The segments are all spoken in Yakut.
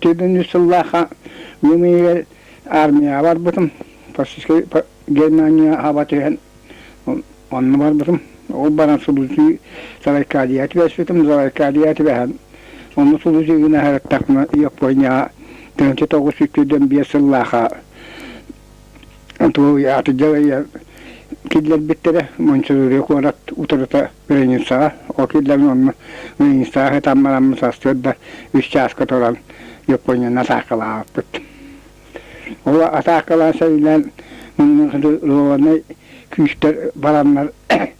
Төрдүннүү сыллаахха үйэм иһигэр армияҕа барбытым, фашистскай Германия аба түһэн онно барбытым. Ол баран сулусье Сарайкадьеҕа түбэспитим, Сарайкадьеҕа түбэһэн онно сулусье гына ыһыктахпына Японияҕа тыһыынча тоҕус сүүс төрдүөн биэс сыллаахха атыдьа киллэрбиттэрэ Мончурури куорат утарыта границаҕа ол киллэрэн онно границаҕа ытан бараммыт сарсыарда үс чааска туран Японияны атаакалаабыппыт ол атаакалаан сэринэн муннук рованай күүстэр бараннар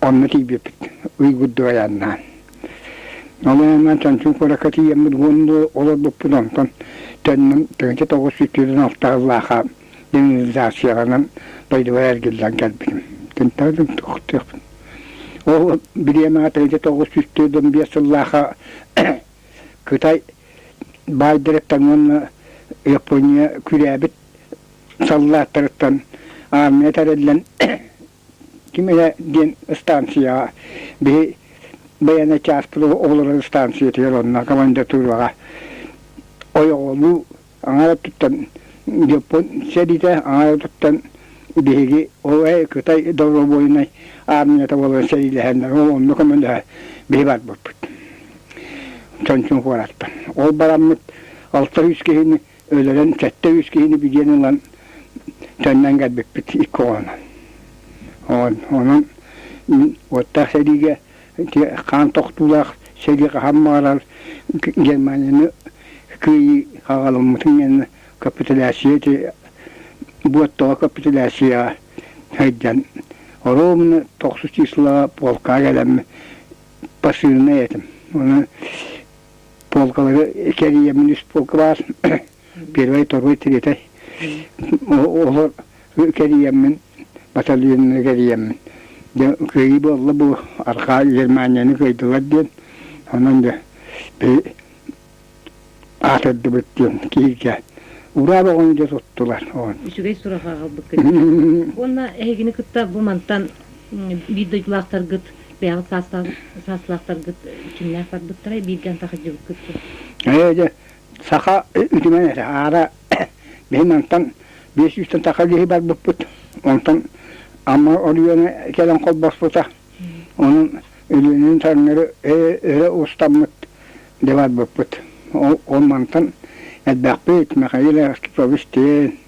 онно тиийбиппит ыйгырдык айаннаан. Ол айаннаан Чанчун куоракка тиийэммит уонна олорбуппут онтон төннөн төнчө тоҕус сүүтүлэн алтааллааха демилизацияланан дойдубар эргиллэн кэлбитим. Күнтэн күнтөхтөхпүн. Ол билиэм аата ити тоҕус сүүтүлэн биэс сыллааха Кытай байдырыттан уонна Япония күрээбит саллааттарыттан армия тэриллэн ким иһэ диэн ыстаансыйаҕа били байыаннай чааспыт оҕолорор ыстаансыйатыгар онно командатуураҕа ойоҕолуу аҥаар өттүттэн Дьоппун сэриитэ аҥаар өттүттэн биһиги ол Кытай добровольнай армията буолан сэриилэһэннэр ол онно көмөлөһө биһи барбыппыт Чончун куораттан. Ол бараммыт алта сүүс киһини өлөрөн сэттэ үс киһини бүдиэн ылан төннөн кэлбиппит икки оҕонон онон уоттаах сэриигэ хаан тохтуулаах сэрии хаһан баҕарар Германияны кыайыы хаҕаламмытын иннэ капитуляция буоттоҕо капитуляцияҕа сылдьан оруобуна тохсус числоҕа полкаҕа кэлэммин посыльнай этим онон полкалары кэрийэммин үс полка баар первый второй третий олор кэрийэммин батальонну кэрийэммин дьэ кыайыы буолла бу архаа германияны кыайдылар диэн онон дьэ аатырдыбыт диэн киһигэ ураа боҕон дьэ туттулар үчүгэй сураха аҕалбыккыт уонна эһигини кытта бу мантан биир дойдулаахтаргыт бэйэҕит саастаах саастаахтаргыт кимнээх барбыттарай бииргэ антахайдьыбыккыт дуу ээ дьэ саха үтүмэн этэ аара биһи мантан биэс сүүстэн саха киһи барбыппыт онтон Амма Орүөнэ кэлэн холбоспута онон Өлүөнэни таҥнары өрө устаммыт да барбыппыт ол мантан элбэхпит Михаил Ростович диэн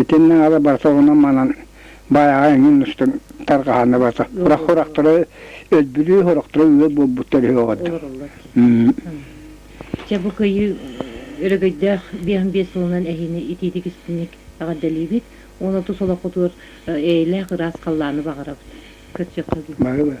Итиннэ ала барса оҕуна манан баайаҕа эҥин устун тарҕаһаны барса. Урах хорахтара өлбүлүү хорахтара үөр буолбуттар үһү оҕордор. Дьэ бу кыйыы өрөгөйдөөх биэһин биэс сылынан эһиини итиитик истиник эҕэрдэлиибит уон отус олоххутугар эйэлээх ыраас халлааны баҕарабыт. Көрсүөххэ дии. Бары бары.